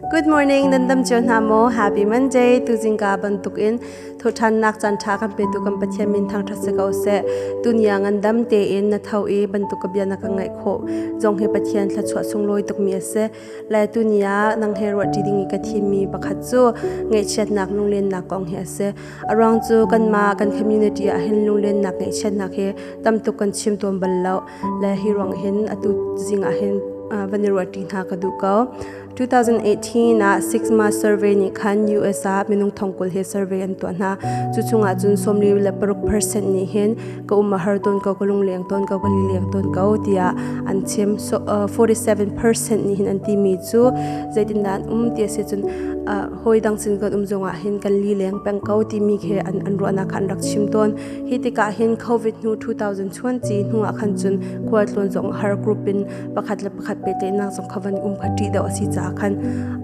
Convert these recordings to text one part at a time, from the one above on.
Good morning, nan dam cio hna maw? Happy Monday. Tu jingka bantuk in thuthannak canṭha kan petu kan Pathian min thang ṭhat si ko seh. Tu niang an dam tein na tho i bantuk ka bia na ka ngaih khawh zong hi Pathian thluachuah sunglawi tukmi a si. Le tu ni ah nang he ruahṭi ding i ka thimmi pakhat cu ngaihchiatnak lunglennak kong hi a si. A ruang cu kanmah kan community ah hin lunglennak ngaihchiatnak hi tamtuk kan chim tuan bal lo. le hi ruang hin atu zing ah hin van i ruahṭi hna ka duh ko 2018 ah Six Months Survey nih khan US ah minung thongkul hi survey an tuah hna cu chungah cun sawmli le paruk percent nih hin ka um a har tawn ko ka lungleng tawn ko ka lileng tawn ko tiah an chim so 47 percent nih hin an timi cu zeitindah an um ti a si cun hoi dang sin kan um zongah hin kan lileng peng ko timi khi an an ruahnak kha an rak chim tawn Hi tikah hin COVID hnu 2020 hnuah khan cun khualtlawn zong har group in pakhat le pakhat pehtlaihnak zong kha van um kha ṭih deuh a si caah khan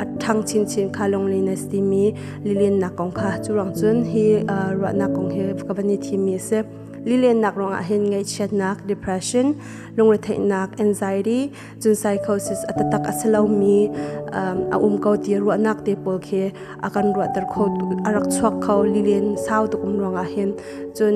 a ṭhang chinchin kha Lunglen a si timi lilennak kong kha cu rang cun hi ruahnak kong hi ka van i thimmi a si. Lilennak ruangah hin ngaihchiatnak, depression, lungretheihnak, anxiety, cun psychosis a tatak a si lomi a um ko ti ruahnak te pawl khi a kan ruahter kho a rak chuak kho lilin sau tuk um ruangah hin cun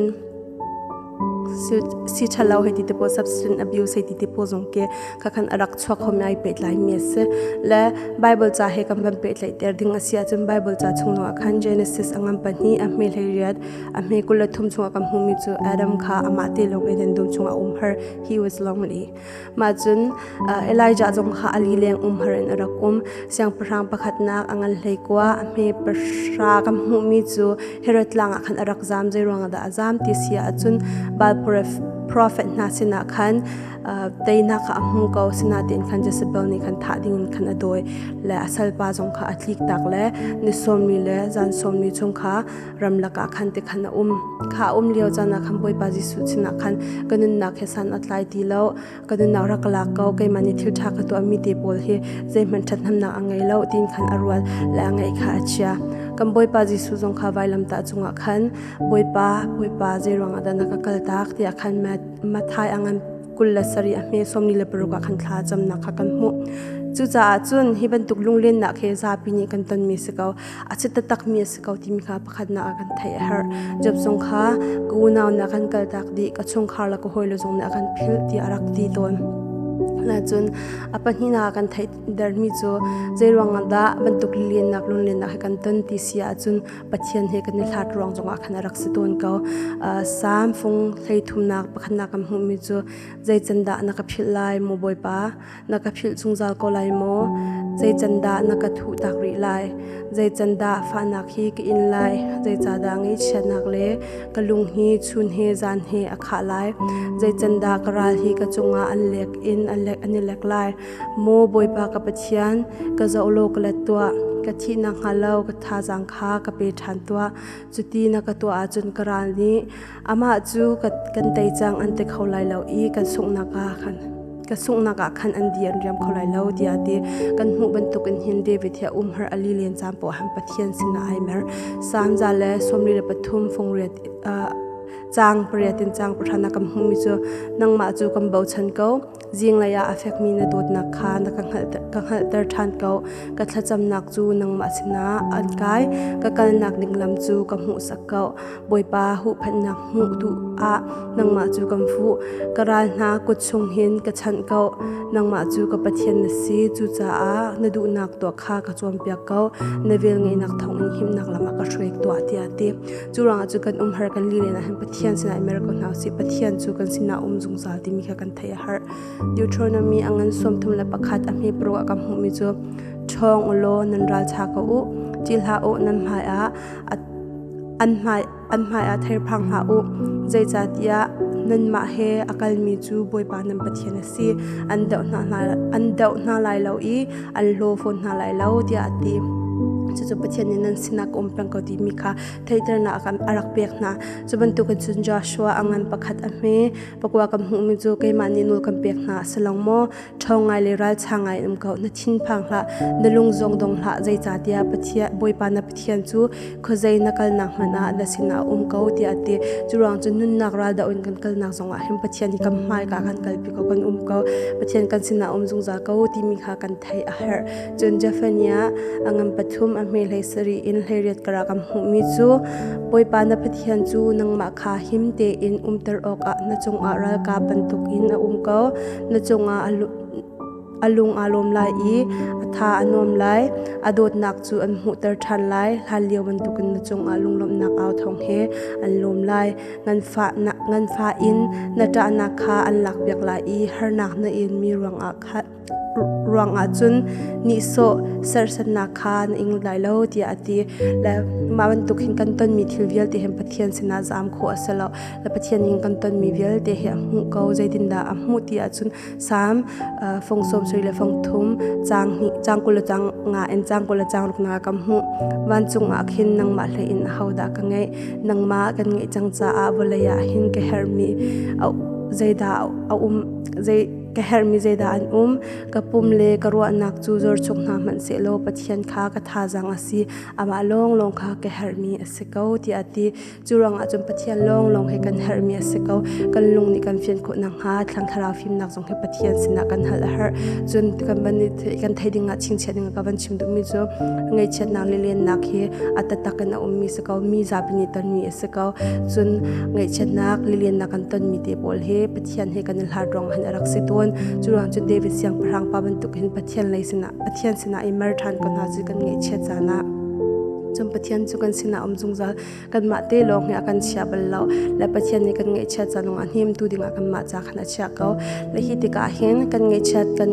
si thalo hei ti te po substance abuse hei ti te po zong ke ka khan arak chuak khom nai pe tlai mi se le bible cha he kam ban pe tlai ter ding asia chun bible cha chung lo khan genesis angam pa ni a me hleiriat a me kul thum chung kam hmu mi chu adam kha ama te lo ge den dum chung a um her he was lonely Mah cun Elijah cung kha a lileng umhar in a rak um. Siangpahrang pakhatnak a ngan hleikua a hme pahra kan hmuhmi cu Herod tlang ah khan a rak zaam, zeiruangah dah a zaam ti si ahcun Baal profet hna sinah khan teinak kha a hmu ko, sinain khan Jezebel nih khan thah dingin khan a dawi le a salpa zong kha a tliktak le ni sawmli le zan sawmli chung kha ramlak ah khan te khan a um kha a um lio caan ah khan Bawipa Jesuh sinah khan ka nunnak he san a tlai ti lo ka nunnak rak lak ko keimah nih thil ṭha ka tuah mi te pawl hi zeihmanh ṭhathnemnak a ngei lo tiin khan a rual le a ngaih kha a chia kan Bawipa Jesuh zong kha vailamtah cungah khan Bawipa Bawipa zei ruangah dah na ka kal tak tiah khan Mathai angan kul le sari a hme sawm ni le paruk ah khan thla camnak kha kan hmuh cucaah cun hi bantuk lunglennak he zapi nih kan tonmi si ko a chit takmi a si ko timi kha pakhatnak ah kan theih a herh. Job zong kha ka unau nih a kan kaltak dih, ka chungkhar le ka hawile zong nih a kan philh tiah a rak ti tawn. Nacun a pahnihnak ah kan theihdermi cu zeiruangah dah bantuk lilennak lunlennak he kan ton ti si ahcun Pathian he kan i hlat ruang zongah khan a rak si tawn ko. Salm fung hlei thumnak pakhatnak kan hmuhmi cu zei can dah na ka philh lai, maw Bawipa? na ka philh zungzal ko lai maw? Zeican dah na ka thuh tak rih lai? Zeican dah fahnak hi ka in lai? Zeicahdah ngaihchiatnak le ka lung hi chun he zan he a khah lai? Zeican dah ka ral hi ka cungah an lek in an i lek lai? Maw Bawipa ka Pathian, ka zoh law ka let tuah. Ka thih nakhnga lo ka thazaang kha ka pe ṭhan tuah. Cuti na ka tuah ahcun ka ral nih amah cu kan tei cang an ti kho lai lo i kan sunghnak ah khan ka sunghnak ah khan an di an riam kho lai lo tiah a ti kan hmuh bantukin hin David hi a umhar a lilian caan pawhan Pathian sinah ai mer Salm za le sawmli le pathum fungriat caang pariat in caang pahra na kan hmuhmi cu nangmah cu kan bochan ko Zinglei ah a fekmi na dawtnak kha na ka hngalhter ṭhan ko. Ka thlacamnak cu nangmah sinah an kai. Ka kalnak ding lam cu ka hmuhsak ko. Bawipa huhphenhnak hmuh duh ah nangmah cu kan fuh. Ka ral hna kut chung hin ka chanh ko. Nangmah cu ka Pathian na si. Cucaah na duhnak tuah kha ka cawnpiak ko. Na velngeihnak thawngin himnak lam a ka hruai tuah, tiah a ti. Curang cu kan um har kan li na han Pathian sinah mer ko hna si Pathian cu kan sinah um zungzal timi kha kan thei a har Deuteronomy angan som thum le pakhat a hme pro ka mu mi cu chong ulo nan ral cha ko u chi hla u nan hmai a an hmai an hmai a ther phang ha u zeicatiah nan mah he akal mi cu boipa nan pathian a si an deuh hna hna an deuh hna lai lo i an hlaw fawn hna lai lo tiah a ti. Cucu Pathian nih nan sinah ka um peng ko timi kha theihternak a rak pek hna. Cu bantukin cun Joshua a ngan pakhat a hme. Pakua kan hmuhmi cu keimah nih nawl kan pek hna a si lo maw? Ṭhawng ngai le ralṭha ngai in um ko, na thinphang hlah, na lung zong dong hlah, zeicahtiah Bawipa na Pathian cu khuazei na kalnak hmanh ah na sinah a um ko tiah a ti. Curuang cun nunnak raldoh in kan kalnak zongah hin Pathian i kam hmaika kan kalpi ko kan um ko. Pathian kan sinah um zungzal ko timi kha kan theih a herh. Cun Japhania a ngan pathum a hme hlei sari in hleiriat kara kam hmuhmi cu Bawipa na Pathian cu nangmah kha him tein umter awkah na cungah ralkap bantuk in a um ko. Na cungah a A lung aa lawm lai i a tha a nuam lai. A dawtnak cu an hmuhter ṭhan lai. Hlanlio bantukin na cungah lunglawmhnak au thawng he an lawm lai. Ngan fa in na ṭahnak kha an lakpiak lai i harnak na inmi ruangah cun nihsawh serhsatnak kha na ing lai lo tiah a ti. Le mah bantuk hin kan tonmi thil vialte hin Pathian sinah zam khawh a si lo. Le Pathian in kan tonmi vialte hi a hmuh ko. Zeitindah a hmuh ti ahcun Psalm uh, fung sawmsarih le fung thum cang hnih cang kul le cang nga in cang kul le cang ruk na ka hmuh vancung ah khin nangmah hlei in ho dah ka ngeih nangmah kan ngeih cang caah vawlei ah hin ka herhmi zeidah a um zei ka herhmi zeidah an um ka pum le ka ruahnak cu zor chung hna hmanh se law pathian kha ka thazang a si amah lawng lawng kha ka herhmi a si ko tiah a ti Cu ruangah cun Pathian lawnglawng he kan herhmi a si ko. Kan lung nih kan fian khawh nakhnga thlang thlarau fimnak zong hi Pathian sinah kan hal a herh. Cun kan van kan thei dingah chingchiat ding ka van chim duhmi cu ngaihchiatnak le lennak hi a tatak in a ummi si ko. Mi zapi nih tonmi a si ko. Cun ngaihchiatnak le lennak kan tonmi te pawl hi Pathian he kan i hlat ruang han a rak si tawn. Cu ruangah cun David siangpahrang pa bantuk hin Pathian lei sinah Pathian sinah i mer ṭhan ko hna cu kan ngaihchiat caan ah. Cun Pathian cu kan sinah um zungzal kanmah te lawng hi a kan chia bal lo le pathian nih kan ngeihchiat canung a hnemtu dingah kanmah ca khan a chia ko le hi tikah hin kan ngeihchiat kan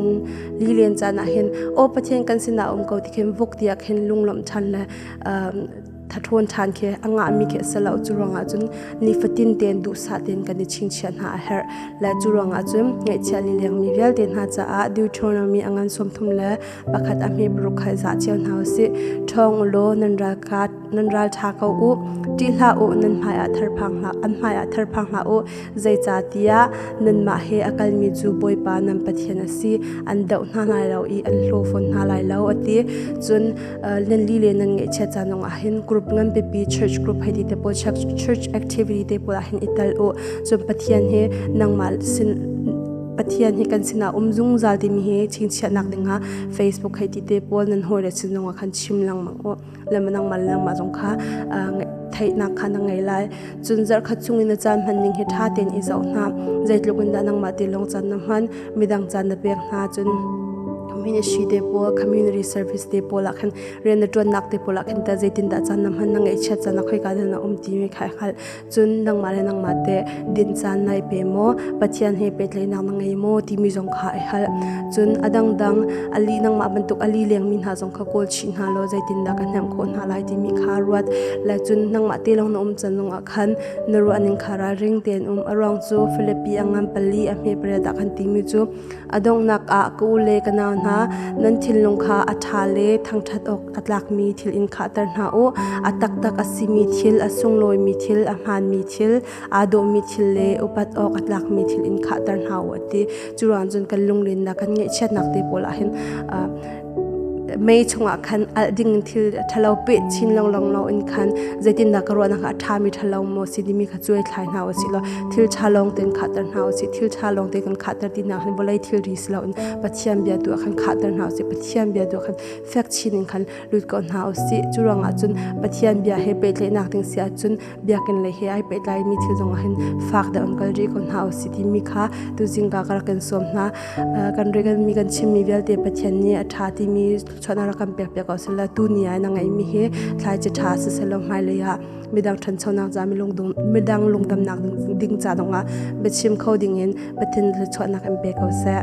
lilen caan ah hin aw pathian kan sinah um ko ti khin vuk tiah khin lunglawmh ṭhan le thathrawn ṭhan khi a ngahmi khi a lo cu ruangah cun nifatin tein duhsah tein kan i chingchiah hna a herh le cu ruangah cun ngeihchiah lilengmi vialte hna caah deuteronomy angan sawm thum le pakhat a hme paruk khai zah cio hna usih ṭhawng u law nan ralkap nan ralṭha ko u ṭih hlah u nan hmaiah therphang hlah an hmaiah therphang hlah u zeicahtiah nanmah he a kalmi cu bawipa nan pathian a si an doh hna lai lo i an hlawfawn hna lai lo a ti cun nan li le nan ngeihchiat ca zong ah hin group nganpipi church group hei ti te pawl church activity te pawl ah hin i tel u cun pathian he nangmah sin pathian hi kan sinah um zungzal timi hi chingchiahnak dingah facebook hei ti te pawl nan hawi le sinong ah khan chim langmang u lemanang man langma zong kha theihnak kha na ngei lai cun zarhkhat chung in na caan hman ning hi ṭha tein i zoh hna zeitluk in dah nangmah tilawng caan na hman midang caan na pek hna cun ministry te pawl community service te pawl ah khan rian na ṭuannak te pawl ah khan ta zeitin dah caan na hman na ngeihchiat caan a khoi ka dan a um ti mi kha hngal cun nangmah le nangmah te din caan nai pe maw pathian he pehtlaihnak na ngei maw timi zong kha ai hal cun a dangdang ali nangmah bantuk ali lengmi hna zong kha kawl chih hna law zeitindah kan hnemh khawh hna lai timi kha ruat la cun nangmah te lawng na um can lungah khan na ruahning kha ralring tein um a ruang cu Philippi angan pali a hme pariat ah khan timi cu a donghnak ah ka u le ka nau hna nan thinlung kha a ṭha le thangṭhat awk a tlakmi thil in khahter hna u. A taktak a simi thil, a sunglawimi thil, a hmaanmi thil, aa dawhmi thil le upat awk a tlakmi thil in khahter hna u a ti. Curuang cun kan lungrinnak kan ngeihchiatnak te pawl ah hin mei chungah khan alh ding thil ṭhalo peh chin longlong lo in khan zeitindah ka ruahnak a ṭhami ṭhalo maw si timi kha cuai thlai hna u sih law thil ṭha lawng tein khahter hna u sih thil ṭha lawng tein kan khahter ti nak hin vawlei thilri si loin Pathian bia tu ah khan khahter hna u sih Pathian bia tu ah khan fek chin in khan lut ko hna u sih. Cu ruangah cun Pathian bia he pehtlaihnak ding si ahcun biakinn lei he ai pehtlaimi thil zongah hin fak deuh in kal rih ko hna u sih timi kha tuzing ka rak kan sawm hna. Kan reganmi kan chimmi vialte Pathian nih a ṭha timi chuahnak rak kan pekpiak ko sehla tu ni ah na ngeihmi hi thlai ci ṭha siselaw hmailei ah midang ṭhanchonak ca midang lungdamnak ding ca zongah biachim kho dingin Pathian thluachuahnak in pe ko seh.